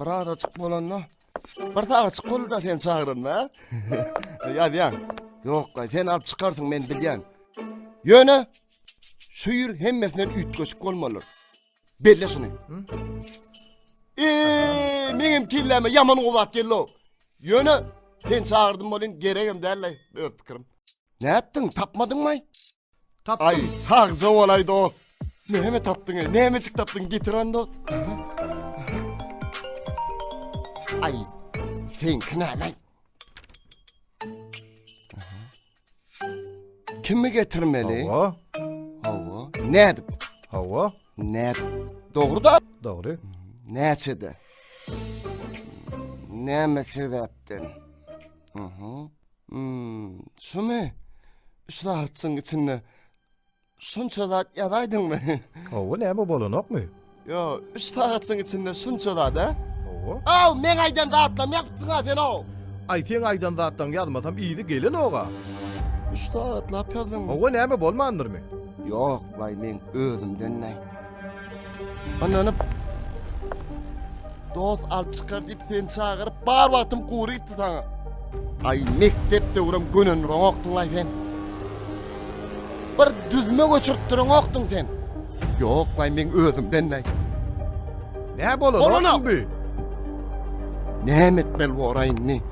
Bir arajyk bolanda bir sagaçyk bolda sen çagyranda. Ýazýan. Ýok, sen alyp çykarsyň men bilýän. Ýöne şu ýür hemmesinden üýtgeşik bolmaly. Belle şuny. Eee, meňem kelläme ýaman gowat geldi. Ýöne sen çagyrdym bolyn, geregem däl-le, öz pikirim. Nätdiň, tapmadyňmy? Tapdym. Ay sagja bolay dost. Näme tapdyň ey? Nämejik tapdyň? Getir onda. Ay. Sen kinalay. Kimi getirmeli? Hawa. Hawa. Ne edip? Hawa. Ne edip? Doğru da. Doğru. Näçede? Näme sebäpden? Hı hı. Hum, şumy? Üç sagatçyň içinde şunça zat ýazaýdyňmy? Hawa, näme bolanokmy? Ýo, üç sagatçyň içinde şunça zat-a? Hawa. Aw, meň aýdan zatlarymy ýazypsyň-a sen o. Aý, seň aýdan zatlaryňy ýazmasam yzy gelenok-a. Üç sagatlap ýazdyňmy? Hawa, näme bolmandyrmy? Ýok, laý, meň özümden näý. Anlanyp. Dost alyp çykar diýip sen çagyryp, bar wagtym gury gitdi saňa. Ay mektep döwrüm gönen roňokdyň ay sen. Bir düzme göçürip duran okdyň sen. Yok ay men özümden ay. Ne bolan Bolana. bu? Ne etmeli bu oray indi?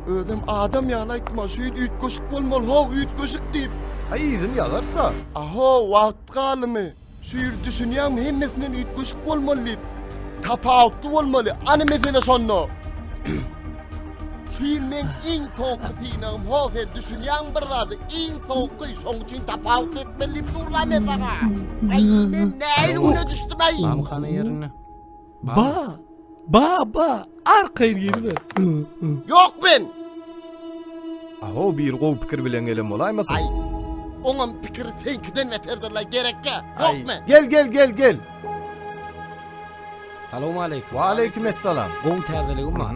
Özüm adam ýaly aýtma, şu ýit üýtgeşik bolmaly, ho üýtgeşik diýip. Ay izin yazarsa. Aho wagt Wagt galymy, şu ýyl düşünýäňmi hemmesinden üýtgeşik bolmaly diýip. Tapawutly bolmaly, any mesele şonda. Şu ýyl meň iň soňky synagym ho sen düşünýäňmi bir zada iň soňky şoň üçin tapawutly etmeli diýip durlam men saňa. Aý men nähili güne düşdüm aý. Mamykana ýerinde. Ba! Ba, ba! Arkaýyn geliber! Ýok men! Aw, bir gowy pikir bilen gelen bolaýmasyn? Aý, oňam pikir seňkiden beterdir-le, gerekkä? Ýok men! Gel, gel, gel, gel! Salowmaleýkim! Waleýkim essalam! Gowy täzeligim bar.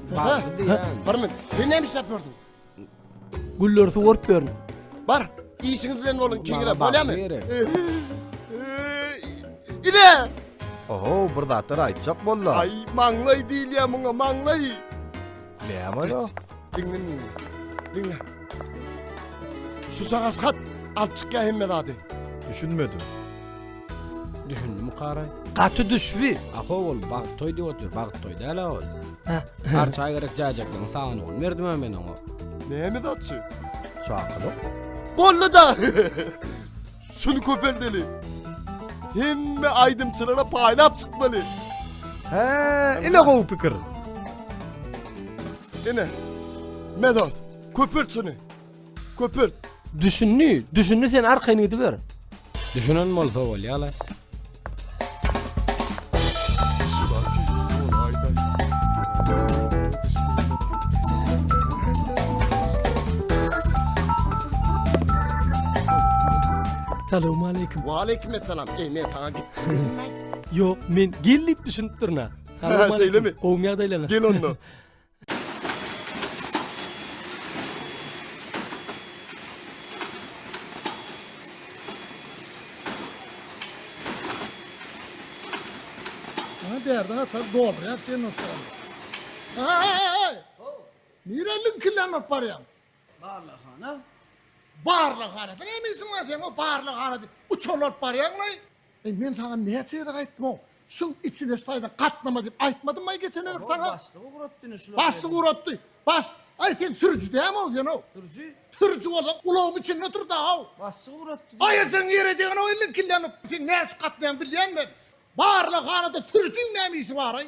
Bar. Bar men. Sen näme işläp ýördüň? Gülleri suwaryp ýörün. Bar. Işiňiz bilen boluň, kiňire bolýamy? Ine! Oho, bir zatlar aýtjak bollar. Ay maňlay diýilýär muňa, maňlay. Näme ol? Diňle meni. Diňle. Şu sagasgat alyp çykýar hemme zady. Düşünmedim. Düşündimi kara? Gaty düşbi. Aho ol bagt toy diýip otyr, bagt toy däl ol. Har çay gerek jajaklyň sagyn ol. Merdim hem men oňa. Näme daçy? Çakylyk. Bollu da. Şunu köpeldeli. Hemme aýdymçylara paýlap çykmaly. He, ine gowy pikir. Ine. Medos, köpelt şunu. Köpelt. Düşündi, düşündi sen arkaýyn gidiber. Düşünen bolsa bolýala. Salam aleyküm. Wa aleyküm esselam. Ey men saňa git. Yok men gel dip düşünüp durna. Salam aleyküm. Gel onda. Bana derdi hatar doğru ya sen not var. Ay ay ay. Nire linkillen not var ya. Barlaghana. Barlaghana. Sen eminsin mi sen o barlaghana? Uçurlar baryan mı? Eý men saňa näçe gezek aýtdymw şuň içine şu taýdan gatnama diýip aýtmadymmaý geçen gezek saňa. Oho başlygy ugrotdyny şular. Başlygy ugrotdy. Baş aý sen sürüji dämow senow. Sürüji. Sürüji bolsaň ulagyň içinde otur daow. Başlygy ugrotdy diýýä. Aýajagyň ýere degenow liňkillenip. Sen näme üçin gatnaýaň bilýän men. Barlag hanada sürüjiň näme işi baraý.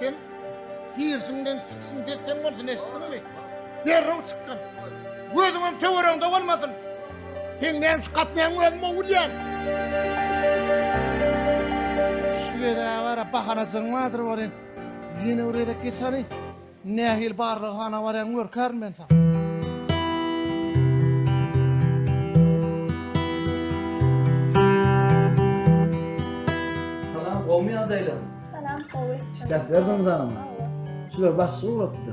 Sen girşiňden çykşyň desen bolsun eşitdiňmi? Derrew çykgyn. Gözüňem töweregiňde bolmasyn. Sen näme şu gatnaýaň özüm ogurýan. Şu gezä bara bahanajygyň bardyr welin, ýene bir gezek geç hany. Nähili barlaghana barýaň görkärin men saňa. Salam gowmy ýagdaýlaň. Salam gowy. İşläp berdiňiz agam. Şular başga ugratdy.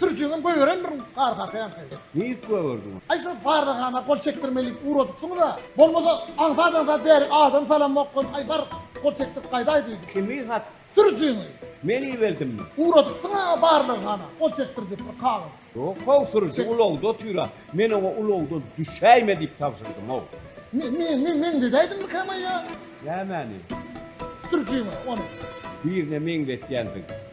Sürüjiňem göýberen bir gargaka ýaňky. Diýip gögerdi ony. Aý şol bardaghana gol çekdirmelilik ugradypsyňyz-a. Bolmasa aňsat-aňsat bärik adam salamok goý, aý bar, gol çekdirip gaýdaý diýdi. Kimi hat? Sürüjiňi. Men iberdimmi? Ugradypsyň-a bardaghana gol çekdir diýip bir kagyz. Ýok-ow, sürüji ulagda otyr-a. Men oňa ulagdan düşäýme diýip tabşyrdym-ow. Meňzedäýdimmikäm-aý ýa? Nämäni? Sürüjiňi ony. Birine meňzetýänsiň.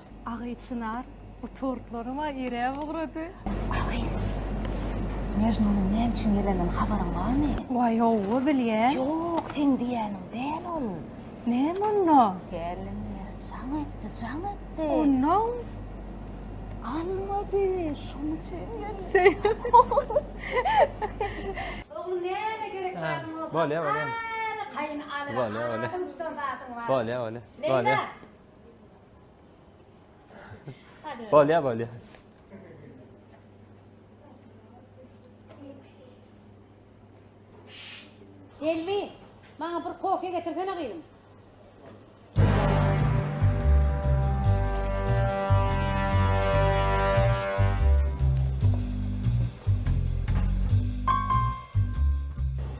Agy çynar bu tortlary ma iräp ugrady. Agy. Mejnunyň näme üçin geleninden habaryň barmy? Waý howwa bilýän. Ýok seň diýýäniň däl ol. Näme onda? Gelin jaň etdi jaň etdi. Onnoň. Almady şoň üçin geldi. Şeýlemi? Oglum näme gerek zadyň bolsa. Bolýa bolýa. Bolýa bolýa. Bolýa bolýa. Bolýa bolýa. Bolýar, bolýar. Selbi, maňa bir kofe getirsene gyzym.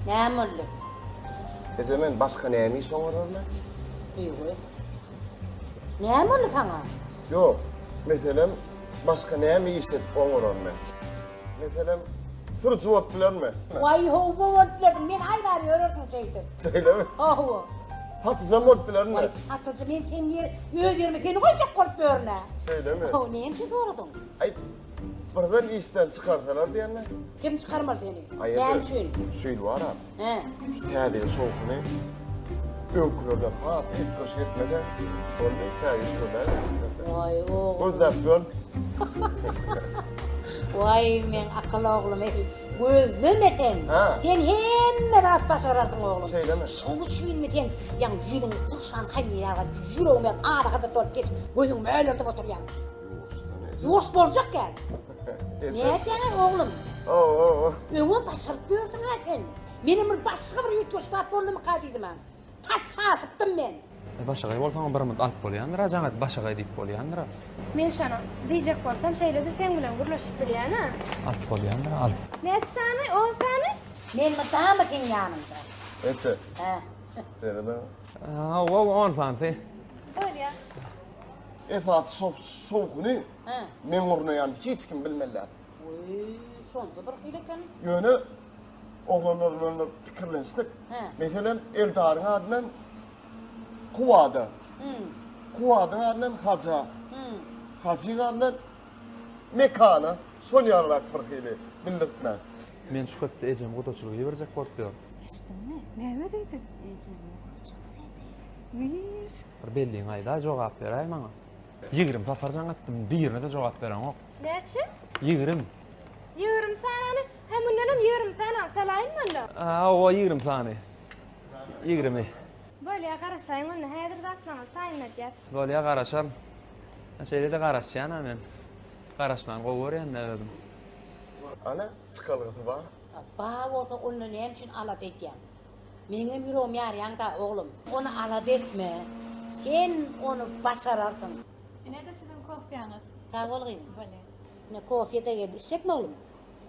Näme boldy? Eje men başka näme iş oňararman? Ýygy. Näme boldy saňa? Ýok, meselem, başga näme iş edip oňaran men? Meselem, sürüji bolup bilermi? Waý, hawa, bolup bilerdim. Men aýlary ýörerdim şeýdip. Şeýlemi? Hawa. Satyjam bolup bilermi? Waý, satyjy men sen ýer, öz ýerime seni goýjak bolup ýörün-ä. Şeýlemi? Hawa, näme üçin soradyň? Aý, birden işden çykarsalar diýende. Kim çykarmaly seni? Näme üçin? Şu ýyl baram. He. Şu täze ýyl şowhuny öňkülerden has üýtgeş etmede boldy. Täze şöyle. Vay o. Gözläp gör. Vay men akıl oglum. Gözleme sen. Ha. Sen hemme zat başararsyň oglum. Şeýlemi? Şoň üçinmi sen ýaň ýüzüň turşan hamýaga ýüregime araga da dolup geçip gözüň mölerdip oturýan. Ýuwaş boljakka. Nädeýäň oglum? O, o, o. Öňe başaryp ýörsüň ha sen. Menem bir başga bir ýütgeş zat boldumy ka diýdim ha. Tat çaşypdym men. E, başagaý bolsaň bir mut alyp bolýandyr ha, jaňat başagaý diýip bolýandyr ha. Men şony diýjek bolsam şeýle-de seň bilen gürleşip bilýän ha. Alyp bolýandyr ha, alyp. Näçe sany? On sany? Men mydama seň ýanyňda. Näçe? Hä. Serede. Hawa, on sany. Bolýa. Esasy şowhuny. Hä. Meň urnaýanymy hiç kim bilmelär. Oý, şonda bir hili eken. Ýöne oglanlar bilen bir pikirlenişdik. Hä. Meselem, Eldaryň adyndan Kuwada. Hmm. Kuwadyň adyndan Haja. Hmm. Hajyň adyndan Mekana. Şol ýalyrak bir hili bildirtmän. Men şu hepde ejemi gudaçylyga iberjek bolup ýörün. Eşitdiňmi? Näme diýdi? Ejemi gudaçylyga diýdi. Wiiş. Bir belligiňi aýdaý, jogap beräý maňa. Ýigirim sapar jaň etdim, birine-de jogap bereňok. Näçe? Ýigirim. Ýigirim sanany? Hä, mundanam ýigirim sanany salaýynmy onda? Hawa, ýigirim sany. Ýigirimi. Bolýa, garaşaýyň onda, häzir zat saňa saýyn edýär. Bolýa, garaşaryn. Şeýle-de garaşýan-a men. Garaşmany gowy görýän-dä özüm. Ana, çykalgasy bar. Bar bolsa, onda näme üçin alada edýäň? Meňem ýüregim ýarýaň da oglum. Ony alada etme. Sen ony başararsyň. Ine-de siziň kofýaňyz. Sag bol gyzym. Bolýa. Ine kofýe-de geldi. Içjekmi oglum?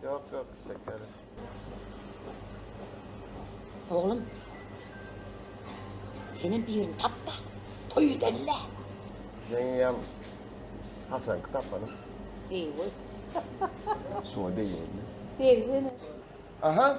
Ýok, ýok, şekeris. Oglum. Senem birini tap-da, toý edeli-le. Meňem haçanky tapany. Deý goý. Şuňa deý boldy. Deý goý. Aha,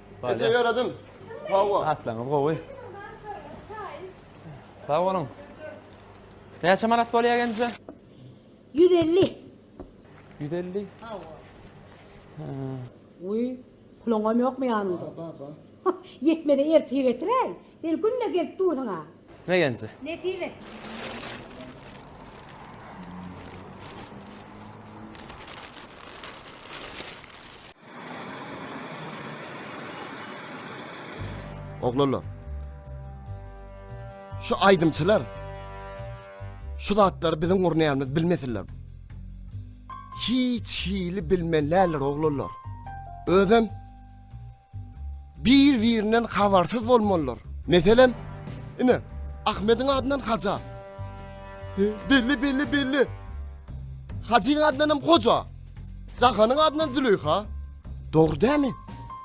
Neçe ýöredim? Hawa. Atlaňyz gowy. Sag boluň. Näçe manat bolýar genje? 150. 150. Hawa. Uý, puluňam ýokmy ýanyňda? Ýetmedi ertir getiräý. Sen günde gelip dursuň a. Megenje. Nesip et. Oglanlar. Şu aýdymçylar şu zatlary biziň gurnaýanymyzy bilmesinler. Hiç hili bilmeläler oglanlar. Özem Bir-birinden habarsyz bolmalylar. Meselem, ine, Ahmediň adyndan Haja. He, belli, belli, belli. Hajyň adyndan hem Hoja. Jahanyň adyndan Züleýha. Dogry dämi?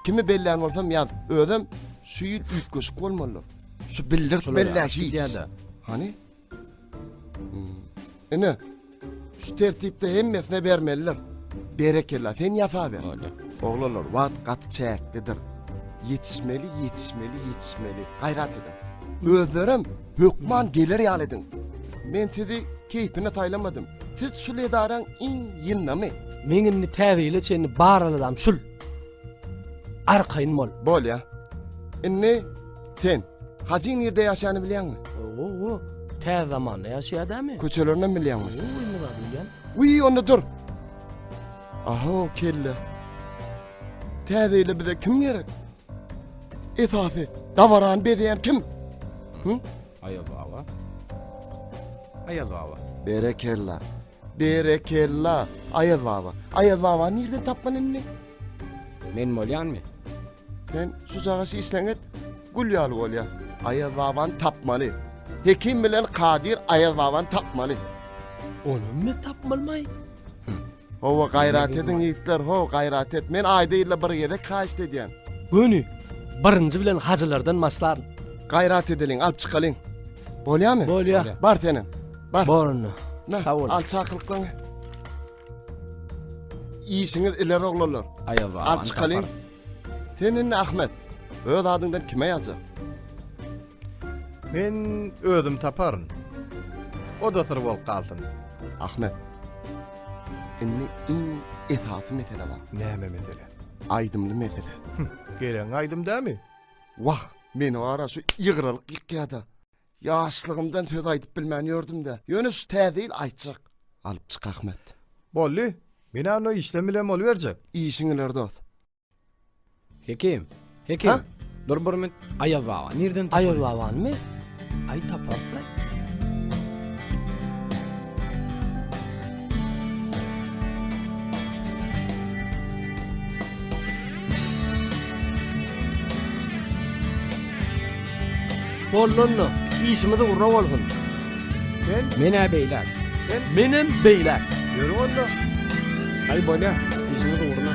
Kimi bellän bolsam ýaz. Özem şu ýyl üýtgeşik bolmalylar. Şu bildirip bellä hiç. Hany? Ine, şu tertipde hemmesine bermeliler. Berekella, sen ýasaber. Hadi. Oglanlar, wagt gaty çäklidir. Ýetişmeli, ýetişmeli, ýetişmeli. Gaýrat ediň. Özlerem hökman geler ýaly ediň. Men sizi keýpine saýlamadym. Siz şul edaraň iň ýyndamy. Meň indi täze ýyla çenli bar aladam şul. Arkaýyn bol. Bolýa. Indi sen Hajy nirde ýaşany bilýäňmi? Owo, tä zamanda ýaşaýa dämi? Köçelerini bilýäňmi? Owo, indi zat bilýän. Uý, onda dur. Aha, o kelle. Täze ýyla bize kim gerek? Esasy, dabarany bezeýän kim? Hı? Aýaz baba. Aýaz baba. Berekella. Berekella, Aýaz baba. Aýaz babany nirden tapman indi? Men bolýanmy? Sen şu jagaşy işleň et, gül ýaly bolýa. Aýaz babany tapmaly. Hekim bilen Kadyr Aýaz babany tapmaly. Onam biz tapmalymaý? Hawa, gaýrat ediň ýigitler, ho, gaýrat et. Men aýda ýylda bir gezek haýyşt edýän. Göni, birinji bilen hajylardan başlaryn. Gaýrat edeliň, alyp çykalyň. Bolýamy? Bolýa. Bar senem. Bar. Borny. Nah, Sag boluň. al çakylyklarňy. Işiňiz ileri oglanlar. Aýa baba. Al çykalyň. Sen indi Ahmet. Öz adyňdan kime ýazjak? Men özüm taparyn. O da syr bolup galsyn. Ahmet. Indi iň esasy mesele bar. Näme mesele? Aýdymly mesele. Gelen aýdym dämi? Wah, meni ara şu ýygralyk ýykýada. Ýaşlygymdan söz aýdyp bilmän ýördüm-de, ýöne şu täze ýyl aýtjak. Alyp çyk Ahmet. Boldy. Men anno işlem bilen boluberjek. Işiň iler dost. Hekim. Hekim. Ha? Dur bir minut. Aýaz baba nirden tapar? Aýaz babanymy? Aý taparys-la. Bollonno, işimiz ugra bolsun. Sen? Menä beýläk. Sen? Menem beýläk. Ýöri onda. Aý bolýa, işimiz ugruna.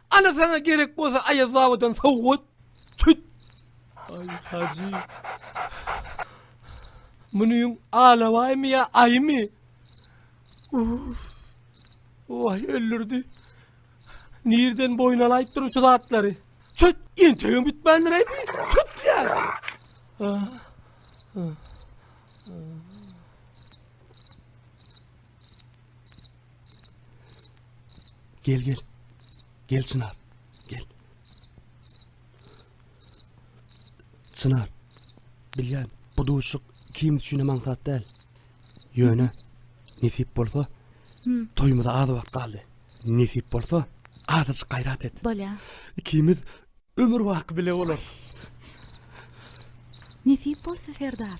Ana saňa gerek bolsa Aýaz babadan sowgat. Çüt. Aý Hajy. Munyň alabaýmy ýa aýymy? Uf. Oý öldürdi. Nirden boýun alaýyp durun şu zatlary. Çüt, entegem bitmändir aýby. Çüt ýar. Ah, ah, ah. Gel gel. Gel Çınar. Gel. Çınar. Bilýän, bu duşuk kim üçin hem aňsat däl. Ýöne nesip bolsa, hmm. toýumyza az wagt galdy. Nesip bolsa, azajyk gaýrat et. Bolýar. Ikimiz Ömür baky bile bolar. Nesip bolsa Serdar.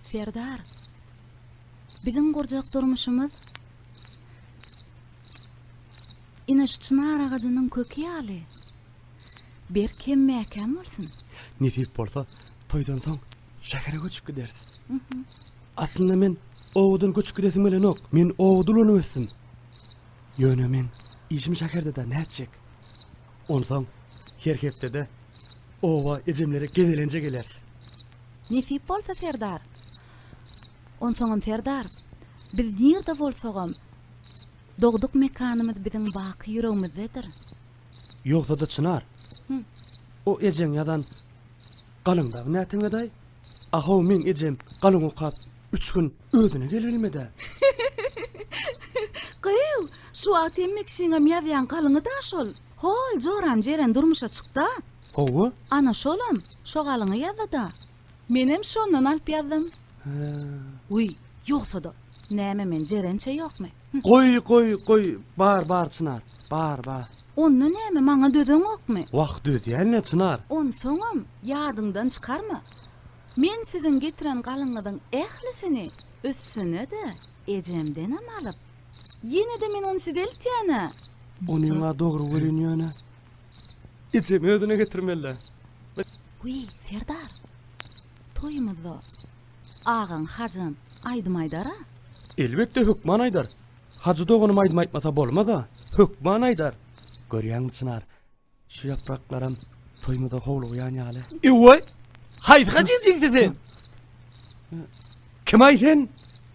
Serdar. Biziň gurjak durmuşymyz Ine şu çynar agajynyň köki ýaly. Berk hem mäkäm bolsun. Nesip bolsa, toýdan soň şähere göçüp gideris. Aslynda men owadan göçüp gidesim gelenok. Men owada ulanıp ösdüm. Ýöne meň işim şäherde-de nätjek? Onsoň her hepdede oba ejemlere gezelenje geleris. Nesip bolsa, serdar. Onsoňam, serdar, biz nirde bolsagam, dogduk mekanymyz biziň baky ýüregimizdedir. Ýogsa-da Çynar, o ejeň ýazan galyňdagy näteňedaý? A-how, meň ejem galyň okap, üç gün özüne gelibilmedi-ä. Gyýw, şu wagt hemme kişiniňem ýazýan galyňy-da şol. Hol joram Jeren durmuşa çykdy-a. Hawa. Ana şolam, şo galyňy ýazdy-da. Menem şondan alyp ýazdym. Hä. Wiý, ýogsa-da, näme men Jerençe ýokmy? Goý, goý, goý, bar, bar, Çynar, bar, bar. Onda näme, maňa dözeňokmy? Wah, dözýän-le, Çynar. Onsoňam, ýadyňdan çykarma. Men siziň getiren galyňyzyň ählisini, üstüne-de ejemdenem alyp, ýene-de men ony size eltýän-ä. Onyň-a dogry welin ýöne, ejemi özüne getirmeli-dä. Wiý, serdar, toýumyzda Agaň, Hajam, aýdym aýdar-a? Elbetde, hökman aýdar. Hajy doganym aýdym aýtmasa bolmaz-a, hökman aýdar. Görýäňmi, Çynar, şu ýapraklaram toýumyza howlugýan ýaly. Ew-oý! Haýsy hajy ejeňsi sen? Kim-aý sen?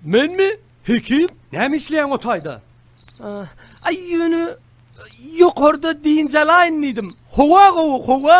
Menmi? Hekim? Näme işleýäň o taýda? Aý, ýöne, ýokarda dynç alaýyn diýdim. Howa gowy, howa!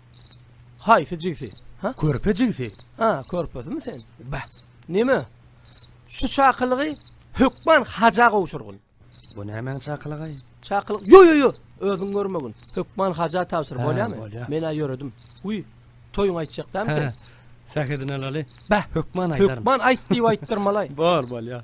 Haýsy jigsi? Ha? Körpe jigsi. Ha, körpesimi sen? Ba. Nime? Şu çakylygy hökman haja gowşurgyn. Bu nämäň çakylygy? Çakylyk. Yo yo yo, özüň görmegin. Hökman haja tabşyr, bolýamy? Bolýar. Men-ä ýöredim. Uý, toýuň aýtjakdamy sen? Sähedini alaly. Ba, hökman aýdaryn. Hökman aýt diýip aýtdyrmalaý. Bor, bolýar.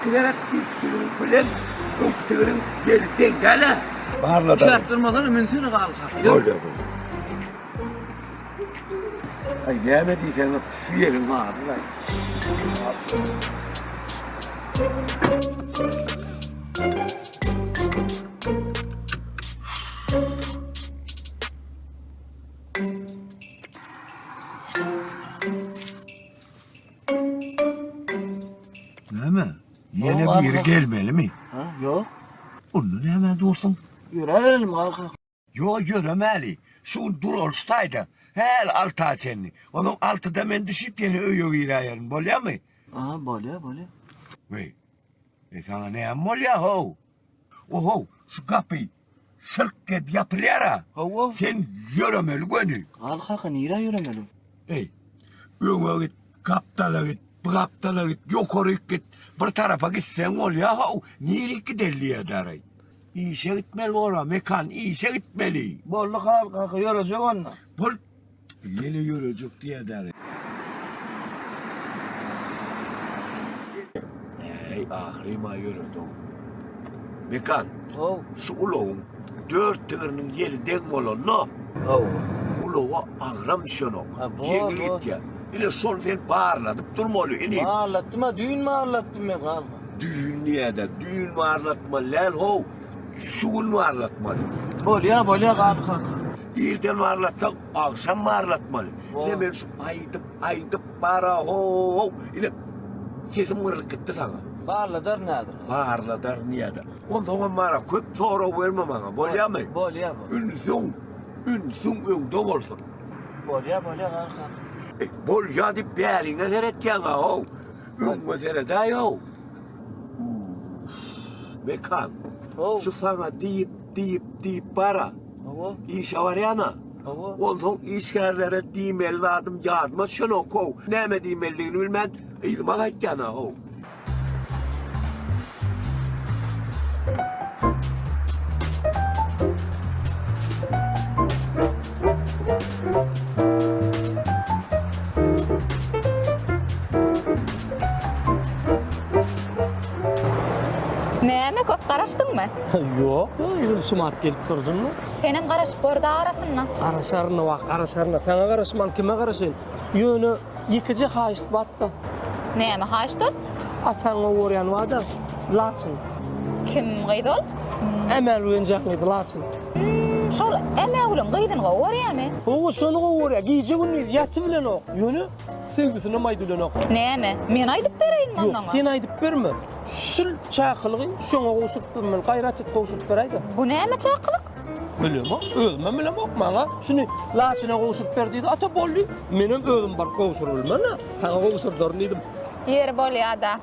Iki gerek ilk tügün bilen ilk tügün gelip denk gele. Barla da. Şart durmadan mümkün galka. Öyle bu. Ay gelme diysen şu yerin vardı da. Näme? Ýene Ýok, biri arka- gelmelimi? Ha, ýok. Onda näme dursun? Ýöräberelim galka. Yo ýöremäli. Şu gün dur ol şu taýda. Häl alta çenli. Onuň altyda men düşüp ýene öýe giräýerin. Bolýamy? Aha, bolýar, bolýar. Weý. E sana näme bolýar how? Ohow, şu gapy şyrk edip ýapylýar-a. Hawa. Sen ýöremeli göni. Galy kaka, nirä ýöremeli? Eý, öňe git, gapdala git, bu gapdala git, ýokaryk git, bir tarapa gitseň bolýar how, nirik giderli ýa-da-aý? Işe gitmeli bor-a, Mekan, işe gitmeli. Boldy, Haly kaka, ýörejek onda. Bol. Ýeli ýörejik diýedäri. Äý, ahyrym-a ýöredi-ow. Mekan. How. Şu ulagyň dört tigiriniň ýeli deň bolanda. Hawa. Ulaga agram düşenok. Ha, bor. Ýeňil gitýär. Ine, şony sen barladyp durmaly, inim. Barlatdym-a, düýn barlatdym men, gall. Düýn diýedä, düýn barlatmaly däl, how, şu gün barlatmaly. Bolýa, bolýa, gall kaka. Irden barlatsak, agşam barlatmaly. Ine men şu aýdyp, aýdyp bara ho-ho. Ine sesim gyrlyp gitdi saňa. Barladar nädir? Barladar nädir? Onsoňam mara köp sorag berme maňa, bolýamy? Bolýar bu. Ünsüň, ünsüň öňde bolsun. Bolýar, bolýar garka. E, bolýar diýip bäriňe seretýäň-ow. Öňüňe seredäý-ow. Mekan. Şu saňa diýip, diýip, diýip bara. Hawa. Işe barýana. Hawa. Onsoň işgärlere diýmeli zadym ýadyma düşenok how. Näme diýmelidigini bilmän yzyma gaýtýana how. Näme köp garaşdyňmy? Ýok, ýöne şumat gelip dursunmy? Senem garaşyp gördi arasyna. Garaşaryn wah, garaşaryn. Saňa garaşman kime garaşaýyn? Ýöne ýekeje haýyşt batda. Näme haýyştol? Ataňa borýan wada, laçyn. Kim gyz ol? Ämägül enjam gyz, laçyn. Şol Ämägüliň gyzyny gowy görýämi? Owo, şony gowy görýär. Gije-gündiz ýaty bilenok. Ýöne Söýgüsinem aýdylenok. Näme? Men aýdyp bereýinmi onda? Ýok, sen aýdyp berme. Şul çakylygy şoňa gowşuryp bermeli. Gaýrat et, gowşuryp beräýdä. Bu näme çakylyk? Bilemok, özümem bilemok. Maňa şuny Laçyna gowşuryp ber diýdi. Ata boldy. Menem özüm baryp gowşuryp bilmen-ä. Saňa gowşurdaryn diýdim. Ýeri bolýa-da.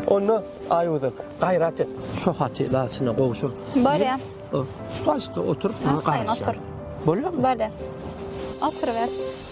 Onda aýuda gaýrat et. Şu haty laçyna gowşur. Bolýa. Şu taşda oturyp sana garaşýar. Bolýa. Bolýa. Otur ber.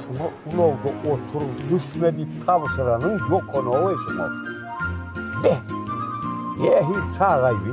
Şuňa ulagda otur, düşme diýip tabşyranyň ýokanow-eý şuňa. Beh! Nähili çagaý bi?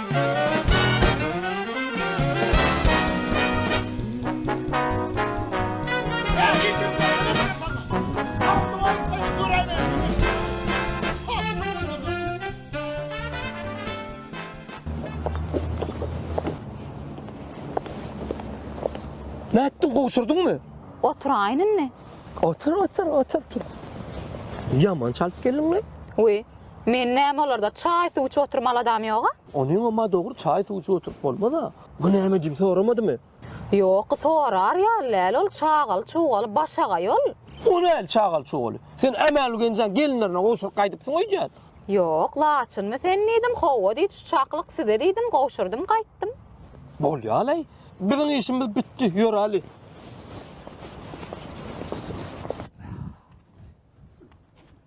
Nätdiň, gowşurdyňmy? Oturaýyn indi. Otur, otur, otur. Ýaman çalyp geldiň-le. Wiý, Men näme olarda çaý suw içip oturmaly adam ýoga? Onyň emma dogry çaý suw içip oturyp bolmaz-a. Bu näme diýip soramadymy? Ýok, sorar ýaly däl ol çagaly-çugaly başagaý ol. O näl çagaly-çugaly? Sen Ämälgenjaň gelinlerine gowşuryp gaýdypsyň öýdýän. Ýok, laçynmy sen diýdim, howwa diýdi şu çaklyk size diýdim, gowşurdym gaýtdym. Bolýalaý. Biziň işimiz bitdi, ýöräli.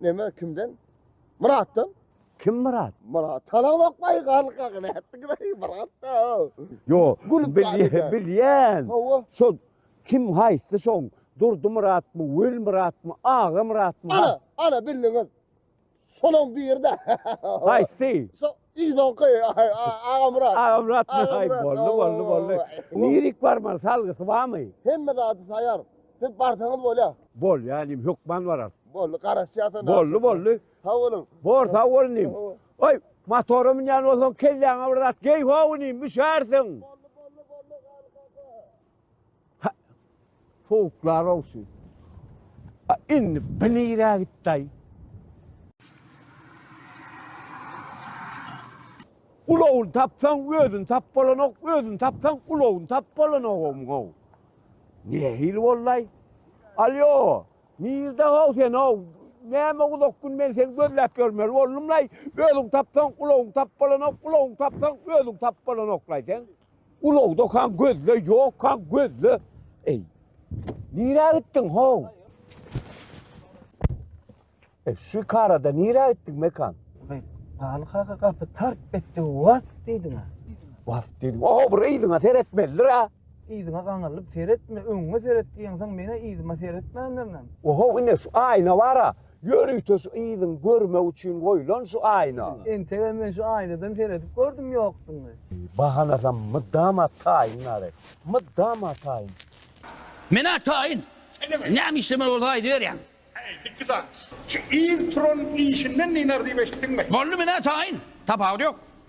Neme kimden? Muratdan. Kim Murat? Murat. Tala bakmay galka gine ettik gine Murat da. Yo. Gülüp bilýän. Bilýän. Hawa. Şol kim haýsy şoň? Durdy Murat mı? Wül Murat mı? Aga Murat mı? Ana, ana bildiňiz. Şonuň biri de. Haýsy? Şo Yzonky Agamyrat. Agamyrat. Aý boldy boldy boldy. Lirik barmy salgysy barmy? Hemme zady taýar. Siz barsaňyz bolýa. Bolýa inim hökman bararys. Boldy garaşýas onda. Boldy boldy. Sag boluň. Bor sag bol inim. Oý motora münýän bolsaň kelläňe bir zat geý how inim müşärsiň. Boldy boldy boldy Garry kaka. Ha, sowuklar olsun. Ha, indi bir nire gitday. Ulawun tapsan özün tap bolanok, özün tapsan ulawun tap bolanok o muňa. Ne hil bollay? Alyo, nirde o sen o? Näme uzak gün men seni gözläp görmeli boldumlay. Özün tapsan ulawun tap bolanok, ulawun tapsan özün tap bolanoklay sen. Ulag dokan gözle, ýokkan gözle. Eý. Nirä gitdiň how? E şu karada nirä gitdiň mekan? Galy kaka gapy tarp etdi was diýdiň. Was diýdiň. O bir yzyňa seretmelidir a. Yzyňa gaňyrlyp seretme, öňüňe seret diýen soň menä yzyma seretmändirnem. Oho ine şu aýna bara. Ýörite şu yzyň görmek üçin goýlan şu aýna. Entegem men şu aýnadan seredip gördüm ýokdugyny. Bahanasam mydama taýyn nalet. Mydama taýyn. Men-ä taýyn. Näme işlemeli bolsa aýdyberýäň. Heý, dikki saz. Şu yz turan işinden diýner diýip eşitdiňmi? Boldy, men-ä taýyn. Tapawudy ýok.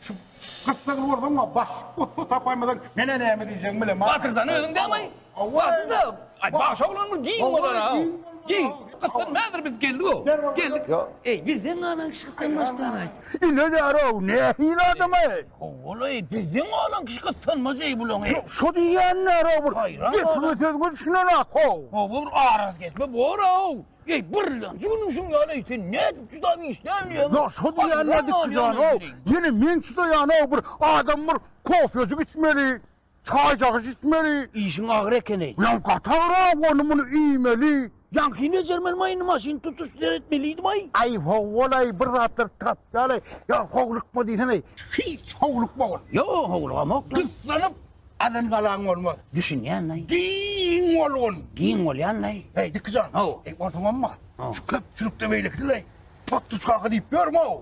Şu gyssagly bolsaň-a, baş ussa tapaýmasaň, menä näme diýjegimi bilemok. Batyrzany özüň dämaý. Batyrda, aý, baş oglan bul giň bolar-a. Giň. Gyssan häzir biz geldi-o. Geldik. Eý, bizden galan kişi gyssan başlaraý. Ineler-ow, nähili adam-aý? Ho-ol-aý, bizden galan kişi gyssanmajy bulaň-eý? Şo diýýänler-ow bir. Gepiňe söz gülşüne-le, ho! Ho-o, bir arazgesme bor-ow. Eý, birlenji günüň şuň ýaly-eý, sen nädip juda işdäl diýýäň? Ýa, şo diýýän nädipki jan-ow, ýene men çydaýan-ow, bir adam bir kofejik içmeli, çaýjagysy içmeli. Işiň agyr eken-eý. Ýa, gaty agyr-ow, ony-muny iýmeli. Ýaňky bejermen maýyny maşyn tutuş seretmelidib-aý. Aý, ho-ol-aý, bir zatlar tapýal-aý. Ýa, howlukma diýsene-eý. Hiç howlukmagyn. Ýa, howlugamok-la. Gyssanyp, Alan galaň bolmaz. Düşünýänlaý. Giň bolgun. Giň bolýanlaý. Heý, Diki jan. Haw. Heý, onsoňamma. Haw. Şu köpçülikde beýlekisileý. Potduç kaka diýip ýörmä-ow.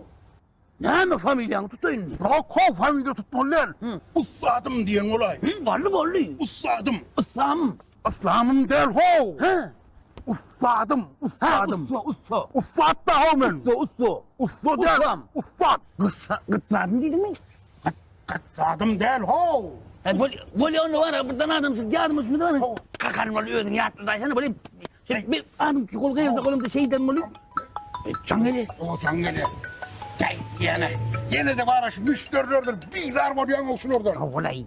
Näme familiýaňy tutaýyn indi? Ýok, haw, familiýa tutmaly däl. Hü. Ussadym diýen bolaý. Hü, boldy, boldy. Ussadym. Ussam. Yslamym däl how. He. Ussadym, ussadym. He, ussa, ussa. Ussat da how men. Ussa, ussa. Ussa däl. Ussam. Ussat. Gyssa, gytsadym diýdiňmi? Gyt, gytsadym däl how. He, bol, bol onda wara bir dana adam çyk, ýadym üçin dana. How. Kakan bol özüň ýatda daýsana bol. Şeý bir adam çyk, ol gyýylsa golumda şeýden bol. Çaň gele. O çaň gele. Jäý, ýene. Ýene-de wara şu müşderilerdir bizar bolýaň how şulardan. How golaý.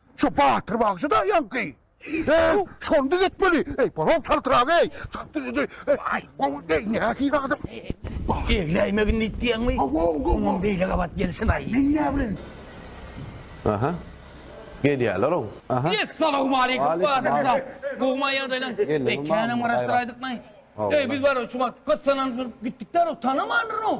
Şu Batyr bagşy da ýaňky. Eý, şony düzetmeli. Eý, bolak çaltrak eý. Aý, gowy deý, nähili adam. Egläýmegin diýýäňmi? Gowy, gowy. Oňam beýle gabat gelsin-aý. Men näme bilen? Aha. Gelýärler-ow. Aha. Essalawmaleýkum, Batyr şa. Gowumy ýagdaýlaň? Eý, känäm garaşdyraýdykmy? Eý, biz barybir şu wagt gyssananyp gitdik-dä-row, tanamandyryn-ow.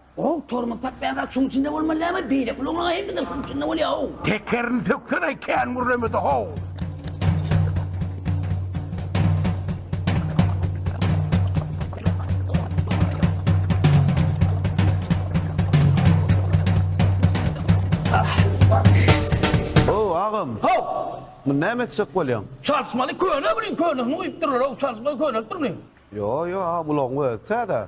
Goh tormozdak bäzak şuň içinde bolmaly dämi beýleki ulaglaň hemmesi şuň içinde bolýa how. Tekerini söksene kän gürlemede how. Muny näme etjek bolýaň? Çalyşmaly köne bilen könesini guýup durlar, o çalyşmaly köne etdirmiň. Yo yo, a bulagyň özi täze.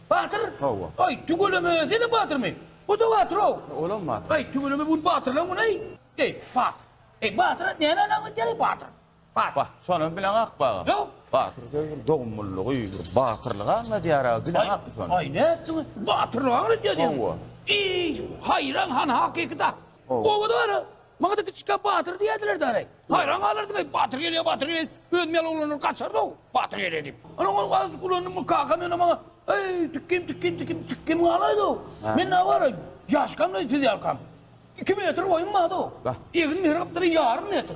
Batyr? Hawa. Aý, tüweleme, sen-ä batyrmy? Bu-da batyr-ow. Olam batyr. Aý, tüweleme, bu gün batyrlaň güni-aý. Eý, batyr. Eý, batyra näme ynam edýäň-eý, batyr? Batyr. Ba, şonam bileň akmy, agam? Ýo. Batyr sözi bir dogumlylygy, bir batyrlygy aňladýar-a, bileň akmy şony? Aý, nätdiň-ä? Batyrlygy aňladýar diýýäň. Hawa. Eý, haýran, han, hakyky-da. Oba-da bar-a. Maňada kiçikkä batyr diýerdiler-dä, areý. Haýran galardym, eý, batyr gelýär, batyr gelýär, özüm ýaly oglanlar gaçardy-ow, batyr gelýär diýip. Onuň ol azajyk ulanymyň kakam ýöne maňa, Eý, tikgim, tikgim, tikgim, tikgim galaýdy-ow. Men nä baray, ýaşkam-da siz ýalkam. Iki metr boýum bardy-ow. Egin-mehri gapdary ýarym metr.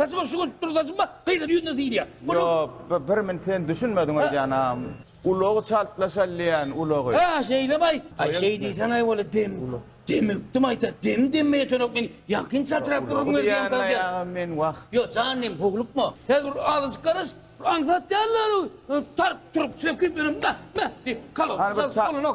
Saçyma şu görüp dur saçyma gyzyň ýüzüne syýylýar. Munuň Ýok, bi birmn sen düşünmediň oý janam. Ulagy çalt laşalýan ulagy. Hä şeýlemaý. Aý şeý diýseňaý wala dem demilipdim aýta dem demmeýeterok men ýakyn çatrap durun Ulagy diýýän diýýän aýagym men wah. Ýo jan dem hoglukma. Häzir bir azajyk garaş bir aňsat däldir tarp turup söküp ýörem meh meh diýip Hany bir ça.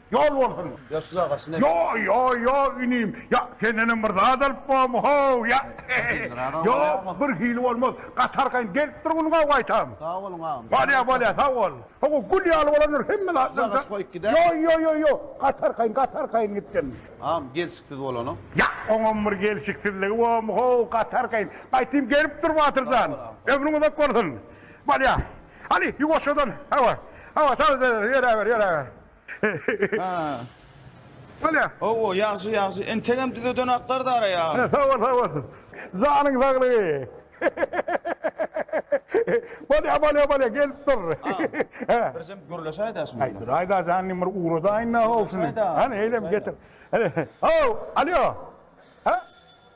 Ýol bolsun! Ýa şuja gaşyn ek. Ýo, ýo, ýo, inim, ýa sendenem bir zat alyp bormy, ho-w, ýa? Ýo, bir hili bolmaz, gaty arkaýyn gelip dur munuň awy gaýtam. Sag boluň agam. Bolýa, bolýa, sag bol. Ho-wo, gül ýaly bolandyr hemme zat. Şuja gaşy goýup gider. Ýo, ýo, ýo, ýo, gaty arkaýyn, gaty arkaýyn gitsin. Agam, gelşiksiz bolanyň. Ýa, oňam bir gelşiksizligi bormy, ho-w, gaty arkaýyn. Gaýtym gelip dur Batyr jan. Ömrüň uzak bolsun. Bolýa. Hany, ýuwaşjadan, hawa, hawa, sal, sal, ýöräber, ýöräber. Ha. Bolýa. Owo, ýagşy, ýagşy. Entegem düzeden aklar Dara ýa. Sag bol, sag bol. Janyň saglygy. Bolýa, bolýa, bolýa, gelip dur. He. Birjem gürleşe aýdaşym. Aý, dur, aýda janyny bir ugradaýyn-da, howsuny. Hany, eýlem getir. Hany, ho, alýo. Ha?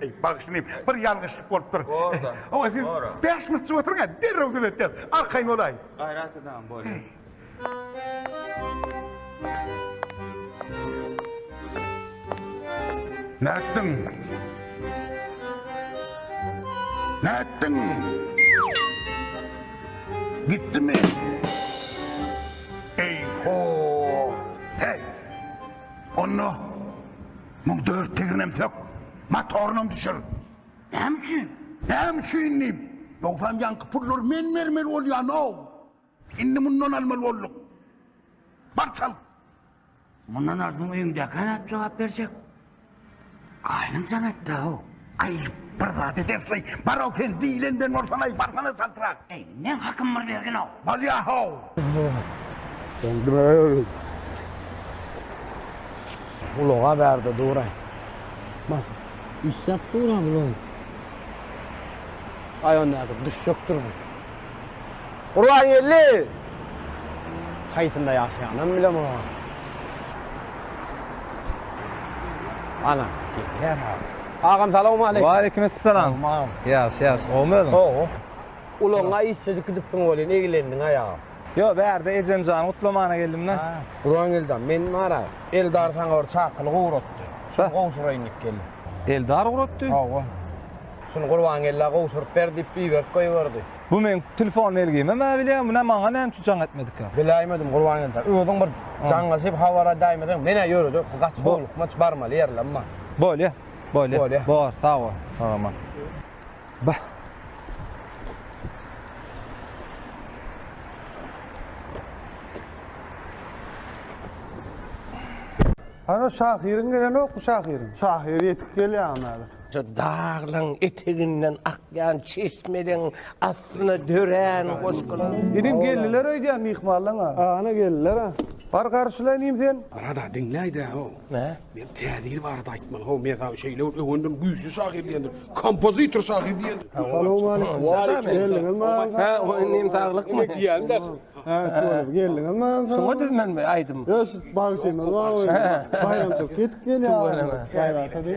Eý, bagyşlaýyn, bir ýalňyşlyk bolupdyr. Borda. Hawa, siz bäş minut oturyň-a, derrew düzetýäs. Arkaýyn bolaý. Gaýrat edäýiň, bolýar. Nätdiň? Nätdiň? Gitdimi? Eý-ho! Heý! Onda Muň dört teginem sök, motorynam düşür. Näme üçin? Näme üçin diýip, Dogsan ýaňky pullary men bermeli bolýan-ow. Indi mundan almaly bolduk. Bar çal. Mundan alsaň öýüňdäkä nädip jogap berjek? Gaýynyň jaň etdi-ow. Aý, bir zat edersiň, bar-ow sen, diýlenden bolsaň-aý, barsana çaltrak. Eý, meň hakym bir bergin-ow. Bolýa-how. Ulaga ber-de duraý. Bas. Işläp dur-a, ulag. Aý, onda-da, düşjekdir bu. Gurbangeldi! Haýsynda ýaşaýanam bilemok. Ana, gelýär ha. Agam salawmaleýkim. Waleýkimessalam. Agam. Ýagşy, ýagşy. Gowumy özüň? Gowy. Ulagyňa işjedik gidipsiň welin, eglendiň-aý agam. Ýok, bärde ejemjany gutlamana geldim men. Gurbangeldi jan, men bar-a, Eldar saňa bir çakylyk ugratdy. Şony gowşuraýyn diýip geldim. Eldar ugratdy? Hawa. Şuny Gurbangella gowşuryp ber diýip iberip goýberdi. Bu meň telefon belgimem-ä bilýän, muny maňa näme üçin jaň etmedikä? Biläýmedim Gurbangelja. Özüň bir jaňlaşyp habar edäýmeseň, men-ä ýörejek ki gaty howlukma, barmaly ýerlem bar. Bolýa, bolýa. Bolýa. Bor, sag bol. Sag-aman. Bah! Hany şahyryň gelenokmy şahyryň? Şahyr ýetip gelýär hany häzir. Şu daglaryň eteginden akýan çeşmeleriň astyna dörän goşgular. Inim geldiler öýdýän myhmanlaň-a. Ana geldiler-a. Bar garşylaýyn inim sen. Brat-a, diňläý-dä-how. Nä? Men Täzir barada aýtmaly, how, men saňa şeýle bir öwendim, güýçli şahyr diýendim, kompozitor şahyr diýendim. Salowmaleýkim. Geldiňiz maňa. Hä, o inim saglykmy? Ine diýýän-dä şo. Hä, şoňa geldiňiz maňa. Şoňa düzmenmi aýdym? Ös, bagşymyz bar öýde. Baýramçylyk ýetip gelýär. Tüweleme. Baýraka diý.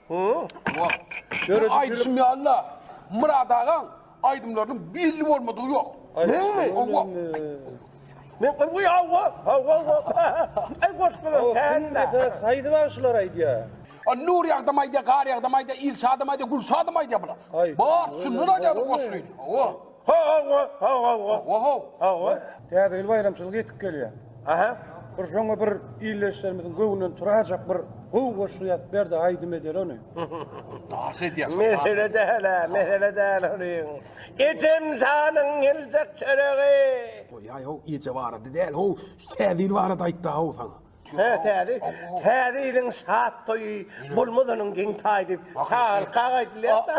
Bu aýdyşym ýaly-da, Myrat agaň aýdymlarynyň belli bolmadygy ýok. Nur ýagdam aýdýar, gar ýagdam aýdýar, il şadam aýdýar, gül şadam aýdýar bular. Bar, şundan aýdýarlar goşgyny. Täze ýyl baýramçylygy ýetip gelýär. Bir şoňa bir ildeşlerimiziň göwnünden turajak bir gowy goşgy ýazyp ber-de aýdym eder ony. Daş edýär. Mesele däl-ä, mesele däl olyň. Ejem janyň geljek çöregi. Goýaý-how, eje barada däl-how, şu Täze ýyl barada aýt-da-how saňa. Hä, täze, täze ýylyň şat toýy bolmazanyň geň taýdy. Çagalyk aga aýdylýar-da.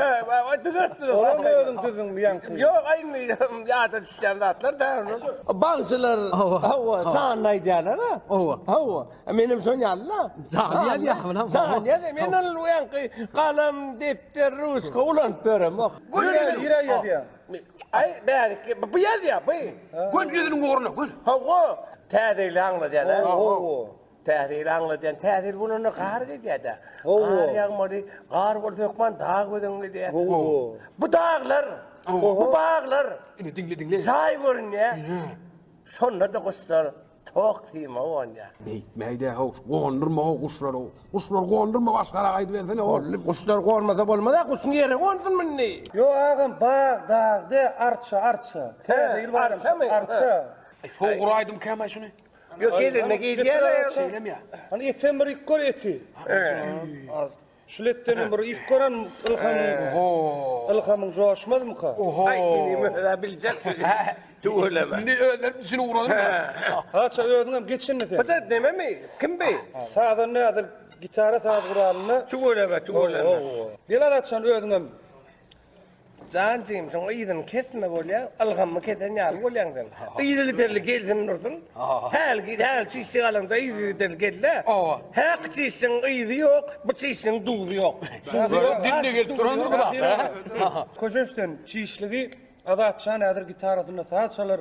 Hä, wa-wa, düzeltdi. Olam özüň düzdüň bu ýaňky. Ýok, aýnmi, ýada düşýän zatlar-da onuň. Bagşylar, hawa, janly aýdýarlar-a. Hawa. Hawa, menem şoň ýaly-la. Janly ýazýarmy lan? Janly ýazýar. Men ol ýaňky galam, depder, ruçka ulanyp ýöremok. Gül ýüregiň ýazýar. Aý, bärikki, bu bu ýerde ýa, bu. Gön ýüzüniň ugruna, gön. Hawa, täze ýyly aňladýan, hä? Hawa. Täze ýyly aňladýan, täze ýyl bolanda gar gidýär-dä. Hawa. Gar ýagmaly, gar bolsa hökman dag göz öňüňe gelýär. Hawa. Bu daglar, bu baglar. Indi diňle, diňle. Jaý görünýär. Ine. Şonda-da guşlar. Tok sima gonýa. Beýtmäýdä how, gondurma how guşlary. Guşlary gondurma başgara gaýdybersene how. Boldy, guşlar gonmasa bolmaz-a, guşuň ýere gonsunmy indi? Ýo agam, bag, dag de, arça, arça. Täze ýyl baýramy çykdy, arça. Sogur aýdym käm-aý şuny. Ýok, gelende geýilýär-ä. Şeýlemyýa? Hany etem bir iýip gör eti. Ýa. Şuletdenem bir ýük gören ylhamyň. Oho. Ylhamyň joşmazmyka? Oho. Aý indi möhela biljek sözi. Tüweleme. Indi özlerim üçin ugradym. Haça özüňem geçindi sen. Bide dememi? Kim bi? Sazan nädil gitara saz guralyny. Tüweleme, tüweleme. Gel Azatjan özüňem. Jan jigim şoň yzyny kesme bolýa ylgammy kesen ýaly bolýaň sen yzy giderli gelsin dursun häl git häl çişje galanda yzy giderli gelle owa häk çişjeň yzy ýok bu çişjeň duzy ýok duzy ýok dinde gelip durandyr bu zat köşeşden çişligi azatjan häzir gitarasynda saz çalar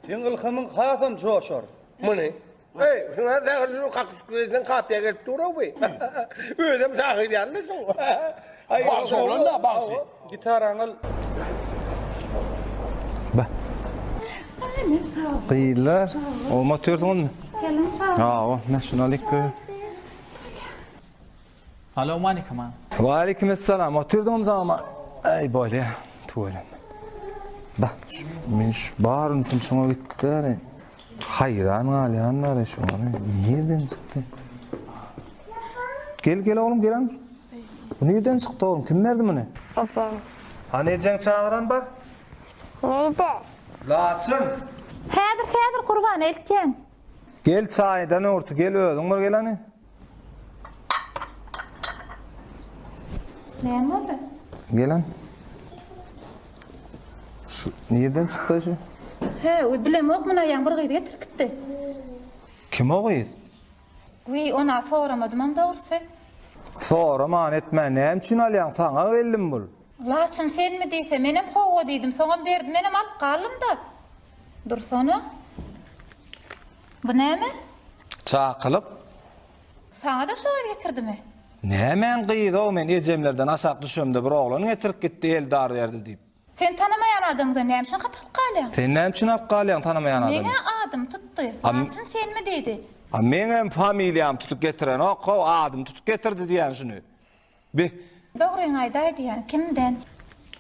seň ylhamyň hasam joşar muny Eý, şuňa zähirli ýürek kakyşyk reýden kapiýa gelip dur-a bu. Özem şahyr ýaly şuň. Bagşy oglan-da, bagşy. Gitaraňy al. Ba. Gyýlar, oňat ýörsüňizmi? Geliň, sag boluň. Awa, näşe şuny alyk. Salawmalikim a. Walikim essalam otyrdym zama eý bolýa tuweleme. Bah men şu bar ünsim şuňa gitdi däli. Haýran galýan däli şu ony nirden çykdy. Gel gel oglum gelen. Bu nirden çykdy oglum kim berdi muny? Ejem. Hany ejeň çagyran bar. Neýde? Laçyn. Häzir häzir gurban eltýän. Gel çaýdan urty gel özüň bir geleni. Näme boldy? Gelen. Şu nirden çykdy şu? He, u bilem ok muna ýaň bir gyz getirip gitdi. Kim o gyz? Wi, ona soramadym am dogrusy. Soraman etme, näme üçin alýaň saňa geldim bul? Laçyn senmi diýse, menem howwa diýdim, soňam berdi, menem alyp galdym-da. Dursana. Bu näme? Çakylyk. Saňa-da şo gyz getirdimi? Nämäň gyzy-ow, men ejemlerden aşak düşemde bir oglan getirip gitdi, eldar berdi diýip. Sen tanamaýan adamdan näme üçin hat alyp galýaň? Sen näme üçin alyp galýaň tanamaýan adamdan? Meň-ä adym tutdy. Laçyn senmi diýdi. A meňem familiýamy tutup getirenok-ow, adymy tutup getirdi diýýän şuny. Be. Dogryňy aýdaýdýaň, kimden?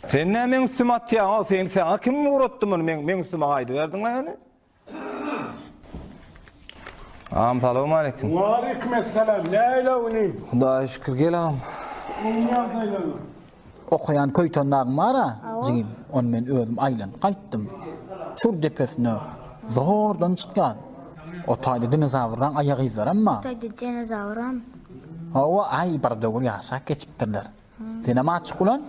Sen nä meň üstüme atýaň-ow, seni saňa kim ugratdy muny meň meň üstüme aýdyberdiň-le ýöne? Agam salowmaleýkim. Waleýkim essalam, näle inim? Hudaýa şükür, gel agam. Oňa ýaz aýlanyp. Okaýan köýten dagyň bar-a, jigim, ony men özüm aýlanyp gaýtdym. Çür depesine zordan çykýar. O taýda dinozawrlaň aýagyzlaram bar. O taýda dinozawram. Hawa, aý, bir döwür ýaşap geçipdirler. Senem açyk ulan,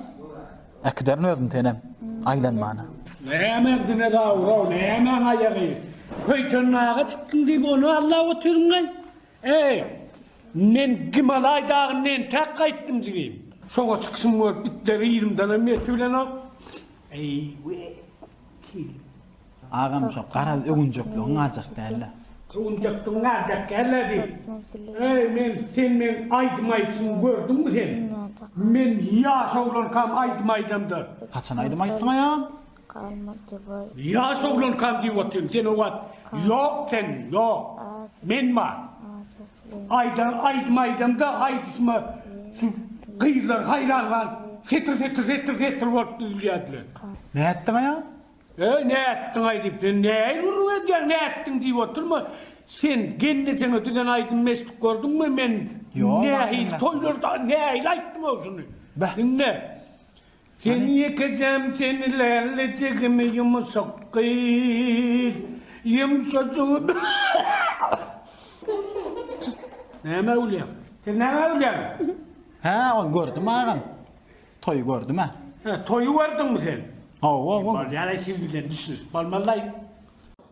äkiderin özüni senem, aýlanmana. Nämäň dinozawr-ow, nämäň aýagy? Köýten daga çykdyň diýip, ony allap otyryn-laý? Eý, men Gimalaý dagyndan entäk gaýtdym, jigim. Şoňa çykyşym görüp, itleri yzymdanam ertibilenok. Eý-we! Kil. Agam şo garaz öwünjekligiň galjak dälä. Öwünjekligiň galjak dälä diýip. Eý men sen meň aýdym aýdyşymy gördüňmi sen? Men ýaş oglankam aýdym aýdamda. Haçan aýdym aýtdyň aýam? Ýaş oglankam diýip otyryn sen o wagt ýok sen ýok. Men bar. Aýdan aýdym aýdamda aýdyşyma şu gyzlar haýran galyp setir setir setir setir bolup düzülýärdiler. Nätdiňaý? Eý nätdiňaý diýip sen nähili gürrüň edýäň nätdiň diýip oturma sen gelnejeňe düzen aýdymmy eşidip gördüňmi men nähili toýlarda nähili aýtdym ol şuny diňle Sen ýekejem sen lälli jigimi ýumşak gyz ýumşajyk Näme gülýäň? Sen näme gülýäň? Hä ol gördüm agam. Toýy gördüm hä. Hä toýy gördüňmi sen? Hawa bu. Bolýar-aý siz bilen düşünişip bolmaz-laý.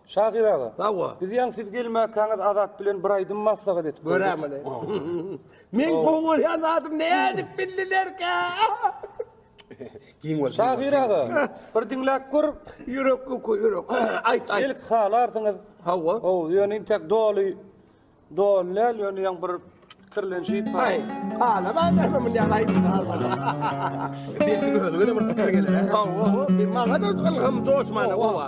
Şahyr aga. Hawa. Biz ýaňy siz gelmäkäňiz Azat bilen bir aýdym maslahat edip gördük. Göräýmeli. Meň gowy bolýan zadym nädip bildilerkä? Giň bol. Şahyr aga, bir diňläp gör. Ýürek uky, ýürek. Aýt, aýt. Belki halarsyňyz. Hawa. Hawa, ýöne intäk doly, doly däl, ýöne ýaň bir kirlenşip. Aý, halaman näme munýan aýdyň halaman. Belki özüňe-de bir pikir geler. Hawa, hawa. Maňa-da ylham joşmana, hawa.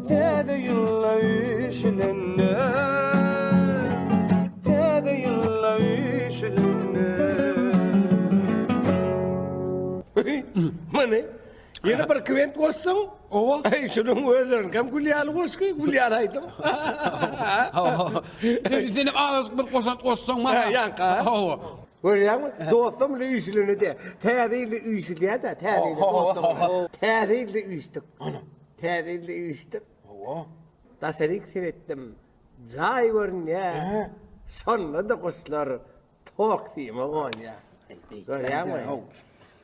Täze ýyla üşülende Täze ýyla üşülende Many Ýene bir kwent goşsaň, owa, eý, şunuň özlerin hem gül ýaly goşgy, gül ýaly aýdym. Sen hem az bir goşant goşsaň, maňa. Ýanka. Owa. Görýäňmi? Dostum bilen üýşülende de, täze ýylda üýşülýär-de, täze ýylda dostum. Täze ýylda üýşdük. Ana. Täze ýylda üýşdip, Hawa. Daşaryk seretdim. Jaý görünýär. Hä? Şonda-da guşlar Toksime gonýar. Görýäňmi? Haw.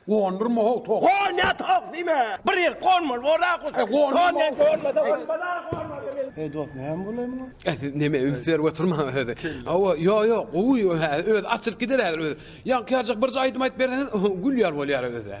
Gondurma haw tok. Gonýar Toksime! Bir ýer gonmaly bor-a guş. E, gondurma. Gonýar, gonmasa bolmaz-a, gonmasa bil. Heý dos näme bolaýmaly? E siz neme üns berip oturmaň özi. Hawa, ýo ýo, gowy ýo hä, özi açylyp gider häzir özi. Ýaňky ýaljak birje aýdym aýdyp berseňiz, gülýär bolýar özi.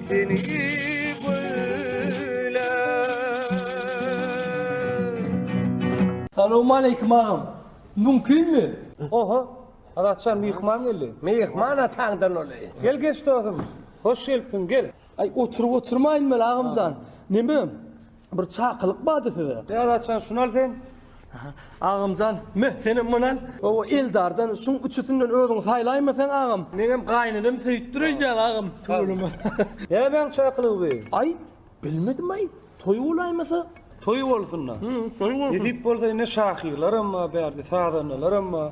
Salowmaleýkim agam. Mümkinmi? Oho, Adatjan myhman geldi. Myhman ataňdan ol-eý. Gel geç dosum. Hoş gelipsiň, gel. Aý oturyp oturmaýyn weli agamjan. Neme? Bir çakylyk bardy size. Beratjan şuny al sen. Agamjan meh senem muny al. Owo Eldardan şuň üçüsinden özüň saýlaýma sen agam. Meňem gaýynenem söýüpdir öýdýän agam tüweleme. Nämäň çakylygy bu? Aý bilmedim aý toý bolaýmasa. Toý bolsun-da. Toý bolsun. Nesip bolsa indi şahyrlaram bar bärde sazandalaram bar.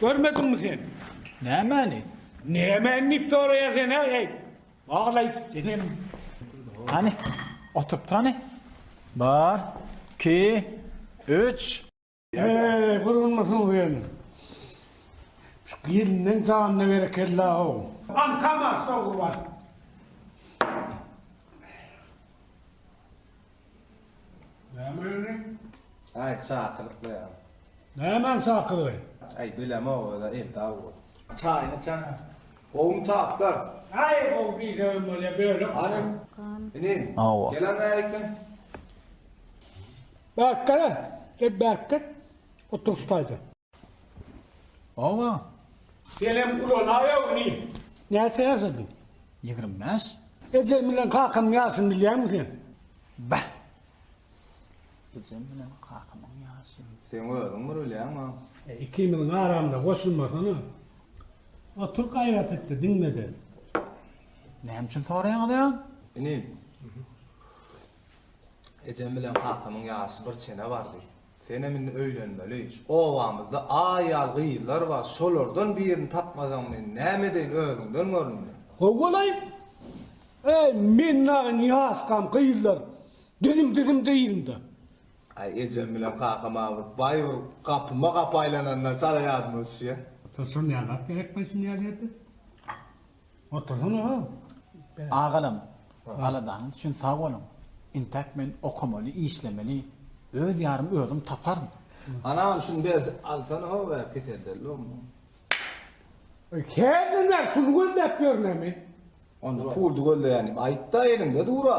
Görmediňmi sen? Nämäni? Nämäni diýip soraýaň sen-ä, eý? Wagz aýt, denem. Hany, oturypdyr hany. Bir, iki, üç. Eý, gurulmasyn sen. Şu gelniň janyna berekella-ow. Aňkam aç, dogry bar. Näme öýüniň? Aý, çakylykly ýa. Nämäň çakylygy? Aý, bilemok öz-ä, eltap bol. Çaýyny içsene. Gowumy taplar? Aý, gowy diýseňem bolýa, bölek. Hanym, inim, gelen bäri eken. Bärik gel-ä, gel bärik gel. Otur şu taýda. Oba. Senem ulanaýawmy? Näçe ýaşadyň? Ýigrimi bäş. Ejem bilen kakamyň ýaşyny bilýäňmi sen? Bäh. Ejem bilen kakamyň ýaşyny. Seň özüň bir bilýäňmi? Ikimiziň aramyza goşulmasana. Otur gaýrat etde, diňlede. Näme üçin soraýaňyz-a? Inim. Ejem bilen kakamyň ýaşy bir çene bardy. Senem indi öýlenmeli. Şu obamyzda aýal gyzlar bar, şolardan birini tapmasaň men näme edeýin özüňden gör indi. How bolaý? Äý men dagy niýaskam gyzlar dizim dizim dyzymda. Aý ejem bilen kakam awy baý bir gapyma gapy aýlananda çala ýadyma düşýä. Şol şol näzat gerek baý şu niýaziýete. Otursana agam. Agalam, aladanyz üçin sag boluň. Intäk men okamaly, işlemeli. Öz ýarymy özüm taparyn. Anam şuny ber alsana how ä keseldellomy. Hernä men şuny gözläp ýörmemi. Onda puldy gözleýän diýip aýtda eliňde dura.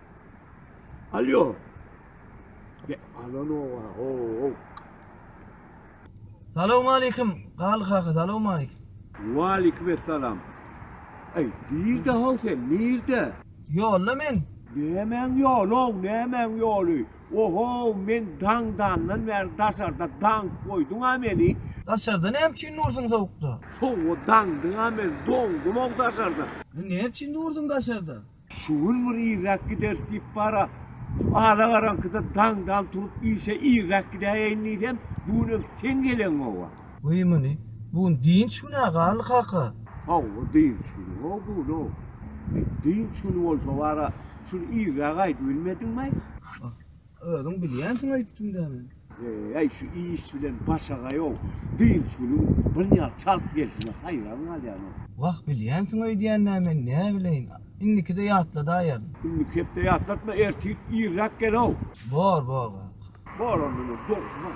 Alýo. Ge, alanowa, ho. Salawmaleýkim, Galy kaka, salawmaleýkim. Waleýkim essalam. Eý, nirde ho sen, nirde? Ýolda men. Nämäň ýoly ow, nämäň ýoly? Oho, men daňdandan bäri daşarda daňyp goýduň-a meni. Daşarda näme üçin dursuň sowukda? Sowuga daňdyň-a meni, doňdum-ow daşarda. Näme üçin dursuň daşarda? Şu gün bir irräk gideris diýip bar-a, şu alagaraňkyda daňdan turup işe irräk gidäýeýin diýsem, bu günem sen geleňow-a. Goý muny, bu gün dynç gün-ä, Garly kaka. Hawa, dynç güni-ow bu gün-ow. Dynç güni bolsa bar-a, şul irräge aýdybilmediňmi-aý? Özüň bilýänsiň aýtdym dä men. Eý şu iş bilen başagaýow dynç günüň birnäçe çalt gelşine haýran galýanok. Wah bilýänsiň öýdýän dä men näbileýin indikide ýatladaýaryn. Indiki hepde ýatlatma ertir irräk gelow. Bor bor kaka. Bor onda men dogruman.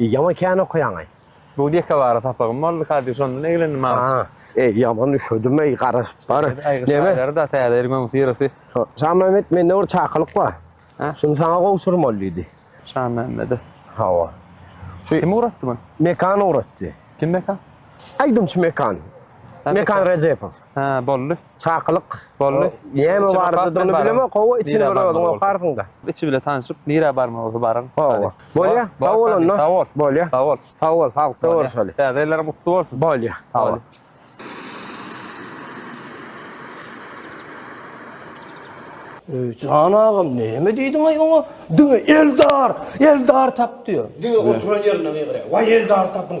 Ýaman kän okaýaňaý. Bu dekabara sapagym boldy ka diýip şondan eglendim aga. Ha, eý ýaman üşedim eý garaşyp bar. Neme? Şaýlarda täze ýeriň öňüsi ýerisi. Şamämmet mende bir çakylyk bar. Şuny saňa gowşurmaly diýdi. Şamämmede. Hawa. Şu kim ugratdy muny? Mekan ugratdy. Kim Mekan? Aýdymçy Mekan. Mekan Rejepow. Hä, boldy. Çakylyk. Boldy. Näme bardygyny bilemok, hawa, içini bir özüň okarsyň-da. Içi bilen tanyşyp, nirä barmaly baryň. Hawa. Bolýa, sag bol onda. Sag bol. Bolýa. Sag bol. Sag bol, saglykda görüşeli. Täze ýyllaryň gutly bolsun. Bolýa, sag bol. Öý, jan agam, näme diýdiň-aý oňa? Diňe Eldar, Eldar tap diýýär. Diňe oturan ýerinde gygyryýar. Waý, Eldary tapyň!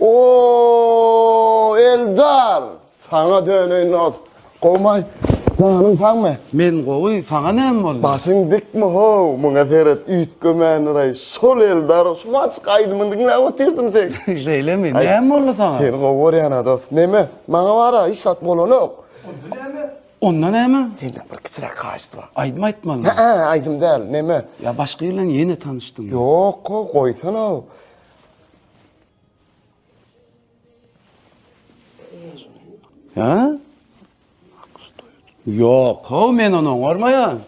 Ooh Eldar! Saňa döneýin dos. Gowumy? Janyň sagmy? Men gowy, saňa näme boldy? Başyň dikmi how? Muňa seret, üýtgemäniräý. Şol Eldar, şu maçk aýdymyny diňläp otyrdym seň. Şeýlemi? Näme boldy saňa? Seni gowy görýän-ä dos. Neme? Maňa bar-a, hiç zat bolanok. Onda näme? Onda näme? Senden bir kiçiräk haýyşt bar. Aýdym aýtmalymy? Hä-ä, aýdym däl. Neme? Ýa başga ýyl bilen ýene tanyşdyňmy? Ýok-ow, goýsana-ow. Ha? Yok, ho men onu oňarmaýan.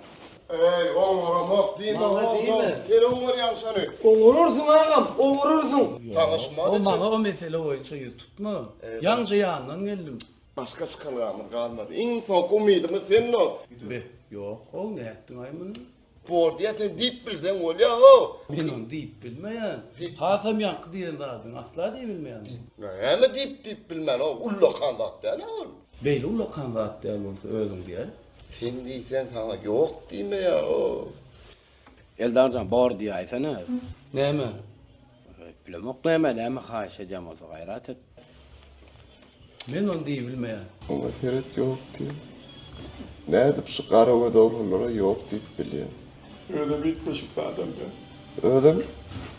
Ey, oňaramok diýme, oňarymy? Sen oňarýaň şony. Oňararsyň agam, oňararsyň. Tanışmadyk. O maňa o mesele boýunça ýüz tutma. Ýaňja ýandan geldim. Başga çykalgamyz galmady. Iň soňky umydymyz sen ol. Be, ýok, o nätdiň aý muny? Bor diýen sen diýip bilseň bolýa how. Men ony diýip bilmeýän. Hasam ýaňky diýen zadyň asla diýip bilmeýän. Näme diýip diýip bilmän o ullakan zat däl a ol. Beýle ullakan zat däl bolsa özüň diýäý. Sen diýseň saňa ýok diýmeýä how. Eldarjan bor diýäýsene. Näme? Eplemok näme näme haýyş edýän bolsa gaýrat et. Men ony diýibilmeýär. Oňa seret ýok diýen. Nädip şu gara göz oglanlara ýok diýip bilýän. Özem üýtgeşik adam däl. Özem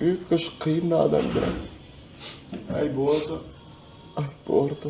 üýtgeşik kyn adam däl. Aýby borda. Aýby borda.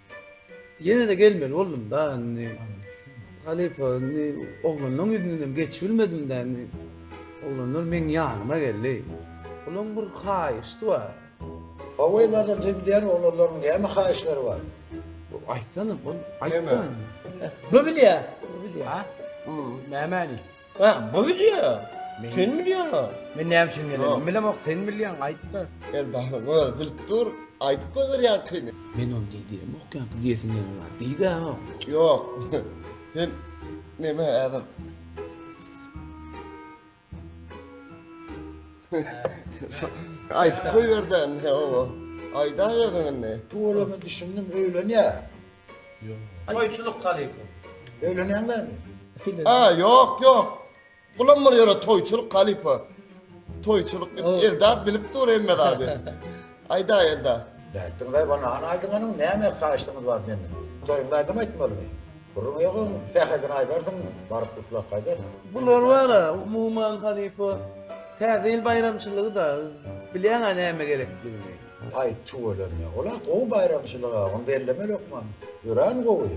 Ýene-de gelmeli boldum-da indi. Halypa indi oglanlaryň ýüzündenem geçibilmedim-dä indi. Oglanlar meň ýanyma geldi. Olaryň bir haýyşdy bar. Hawa, bar-da, diýýän oglanlaryň näme haýyşlary bar? Aýtsana, ol aýt-da indi. Bu bilýär. Bu bilýär. Nämäni? Hä, bu bilýär. Sen bilýäňä. Men näme üçin gelenim bilemok, sen bilýäň, aýt-da. Eldaryň özi bilip dur, aýdyp goýberýänkiňi. Men ony diý diýemok, ýaňky diýesim ýene bar. Diý-de, ha. Ýok, sen neme häzir? Aýdyp goýber-de indi, hawa. Aýdaý özüň indi. Pul bolanyna düşündim, öýlenýär. Toýçulyk kalypym. Öýlenýäň bäri? A, ýok, ýok. Bulam bir ýöne toýçulyk kalypa. Toýçulyk diýip, Eldar bilip dur hemme zady. Aýdaý, Eldar. Bähdiň daýy bolna, hany aýdyň anyň, näme haýyşlygyňyz bar menden? Toýuňda aýdym aýtmalymy? Gürrüň ýok oň, sähedini aýdarsyň, baryp gutlap gaýdarsyň. Bular bar-a, umuman, halypa, Täze ýyl baýramçylygy-da, bilýäň-ä näme gerekdigini. Aýt tüweleme. Ola gowy baýramçylyga, ony belleme hökman. Örän gowy.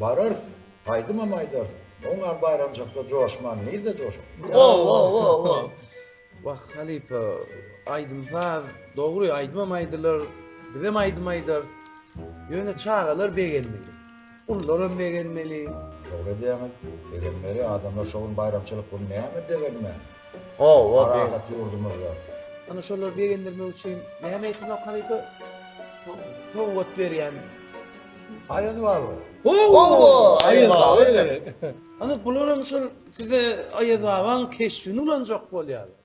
Bararys. Aýdymam aýdarys. Oň ýaly baýramçylykda joşman nirde joşup. Wo-wo-wo-wo. Wah, halypa, aýdym-saz, dogry, aýdymam aýdylar, bizem aýdym aýdarys. Ýöne çagalar begenmeli. Ullaram begenmeli. Dogry edýäňiz. Begenmeli. Adamlar şo gün baýramçylyk gün näme begenmän. Hawa. Parahat ýurdumyzda. Ana şolary begendirmek üçin näme etmek halypa? Sowgat berýän aýaz barmy? Hawa. Aýaz baba. Ana bularam şol size aýaz babaň keşbini ulanjak bolýar.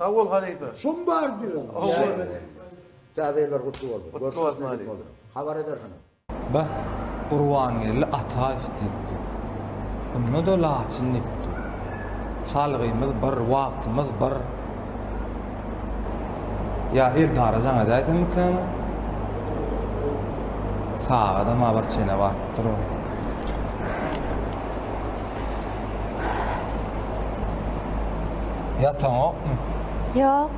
Sag bol halypa. Şum bar diýiň. Täze ýyllar gutly bolsun. Gutly bolsun halypa. Habar edersiňiz. Beh, Gurbangeldi Ataýew diýipdi. Onda-da Laçyn diýipdi. Salgymyz bir, wagtymyz bir. Ýa Eldara jaň edäýsemikäni? Sagadam-a bir çene barypdyr-ow. Ýataňokmy? Ýok.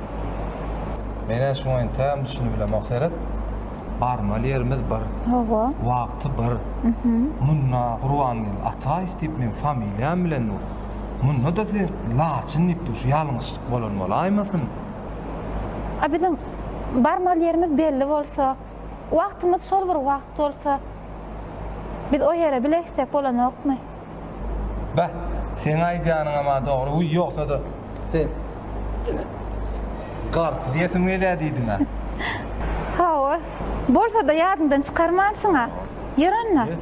Men-ä şuňa entägem düşünip bilemok. Seret, barmaly ýerimiz bir. Hawa. Wagty bir. Munda Gurbangeldi Ataýew diýip meň familiýam bilen dur. Munda-da siz Laçyn diýip dur. Şu ýalňyşlyk bolan bolaýmasyn? A biziň barmaly ýerimiz belli bolsa, wagtymyz şol bir wagt bolsa, biz o ýere bile gitsek bolanokmy? Bah, seň aýdýanyňam-a dogry, wiý, ýogsa-da, sen ýene garpyz iýesim gelýär diýdiň-ä. Hawa, bolsa-da ýadyňdan çykarmansyň-a. Ýör onda. Ýör.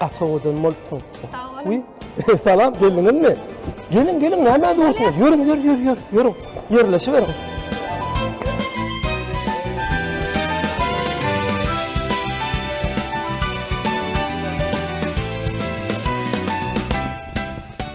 Gaty owadan bolupsyň. Sag boluň. Salam, geldiňizmi? Geliň, geliň, näme dursuňyz? Ýörüň, ýör, ýör, ýör, ýörüň. Ýerleşiweriň.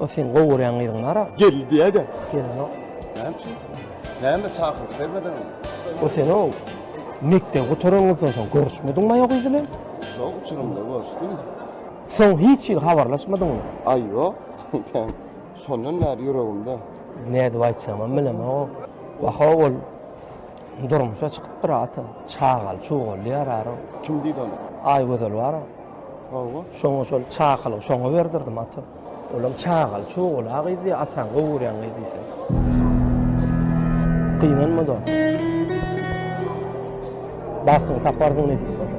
O seň gowy görýän gyzyň nara? Geldi diýäýdä. Gelenok. Näme üçin? Näme çakylyk bermediňmi? O sen-ow, mekdebi gutaranyňyzdan soň görüşmediňmaý o gyz bilen? Soň uçurymda görüşdim. Soň hiç hili habarlaşmadyňmy? Aý ýok, kän. Şondan bäri ýüregimde. Nädip aýtjagymam bilemok. Wah-ow ol durmuşa çykypdyr ata. Çagaly çugaly ýararog. Kim diýdi ony? Aýgözel bar-a. Hawa. Şoňa şol çakylygy şoňa berdirdim ata. Olam çagaly çogul a gyz diýýär ataň gowy görýän gyz diýseň. Gynanma dos. Bagtyňy taparsyň nesip bolsa.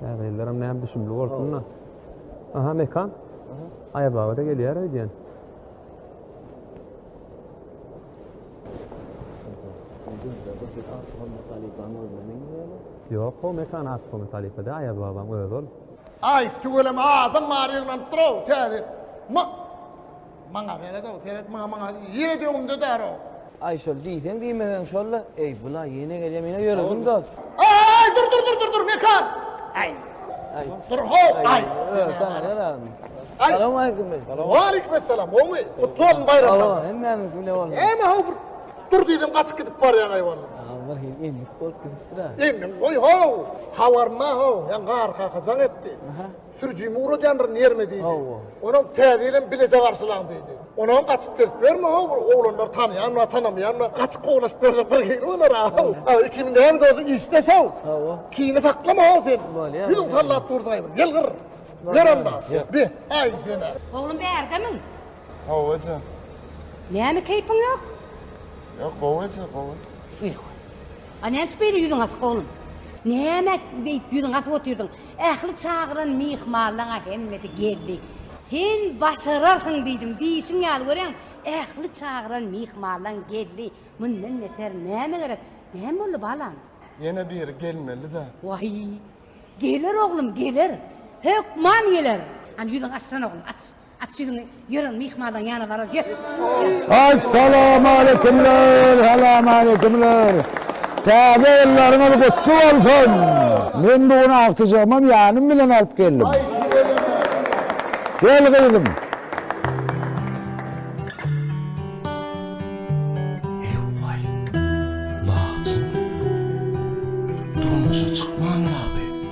Täzeýillerem näm düşümli bolsun-da. Aha, Mekan. Aýaz baba-da gelýär öýdýän. Ýok, o Mekan Aksomy halypa däl, Aýaz babaň özi ol. Aý, tüweleme adam bary ýygnanyp dur-ow, täze. Ma, maňa seret-ow, seret maňa, maňa ýeret öňümde däl-ow. Aý, şol diýseň diýmeseň şol-la. Eý, bula ýene gelýär, menä ýöresim dost. Aý, dur, dur, dur, dur, dur, Mekan! Aý, dur-how, aý! Öý, saňa zerarmy? Aý! Salowmaleýkim, Mekan. Waleýkim-essalam, gowmy? Gutly bolsun baýramlaryň. Hawa, hemmämiňki bilen bolsun. Näme-how bir Dur gyzym gaçyp gidip barýaň aýwandan. Aw bir hili endik bolup gidipdir-ä. Emin goý-how! Habarynda-how, ýa gar kaka jaň etdi. Aha. Sürüjimi ugradýandyryn ýerime diýdi. Hawa. Onam täze ýylym bileje garşylaň diýdi. Onam gaçyp gezip ýörme-how, bir oglanlar tanaýanmy, tanamaýanmy, gaçyp kowlaşyp ýörse bir hili bolar-a-how. A, ikimiz näme bolsa işdeş-how. Hawa. Kini saklama-how sen. Bolýar. Ýüzüň sallap dursaý bir, gel gyr. Ýör onda. Ýör. Bi, aý seni. Oglum bärdemiň? Hawa eje. Näme keýpiň ýok? Ýok, gowy eje, gowy. Ýeri goý. A näme üçin beýle ýüzüň asyk oglum? Näme beýdip ýüzüňi asyp otyrdyň? Ähli çagyran myhmanlaň-a hemmesi geldi. Sen başararsyň diýdim, diýşiň ýaly görýäň, ähli çagyran myhmanlaň geldi. Mundan beter näme gerek? Näme boldy balam? Ýene biri gelmeli-dä. Waý, geler oglum, geler. Hökman geler. Hany ýüzüňi açsana oglum, aç. Aç ýüzüňi, ýören myhmalyň ýana barar, ýör! Assalamualeýkumler, Salamaýkumler! Täze ýyllaryňyz gutly bolsun! Men bu gün agtyjagymam ýanym bilen alyp geldim. Gel gyzym! Ew-waý, laçyn! Durmuşa çykman ýaly.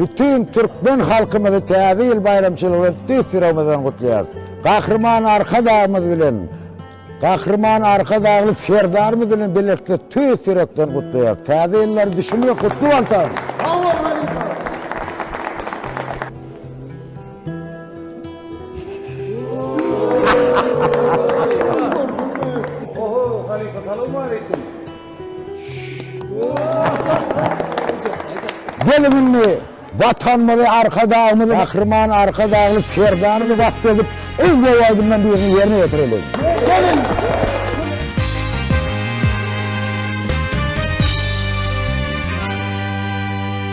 Bütin türkmen halkymyzy Täze ýyl baýramçylygy bilen tüýs ýüregimizden gutlaýarys. Gahryman Arkadagymyz bilen, Gahryman Arkadagly Serdarymyz bilen bilelikde tüýs ýürekden gutlaýarys. Täze ýyllary düşünmek gutly bolsun! Gelin indi Watanymyzy, Arkadagymyzy, Gahryman Arkadagly Serdarymyzy wasp edip, yz boý aýdymlaryň birini ýerine ýetireliň.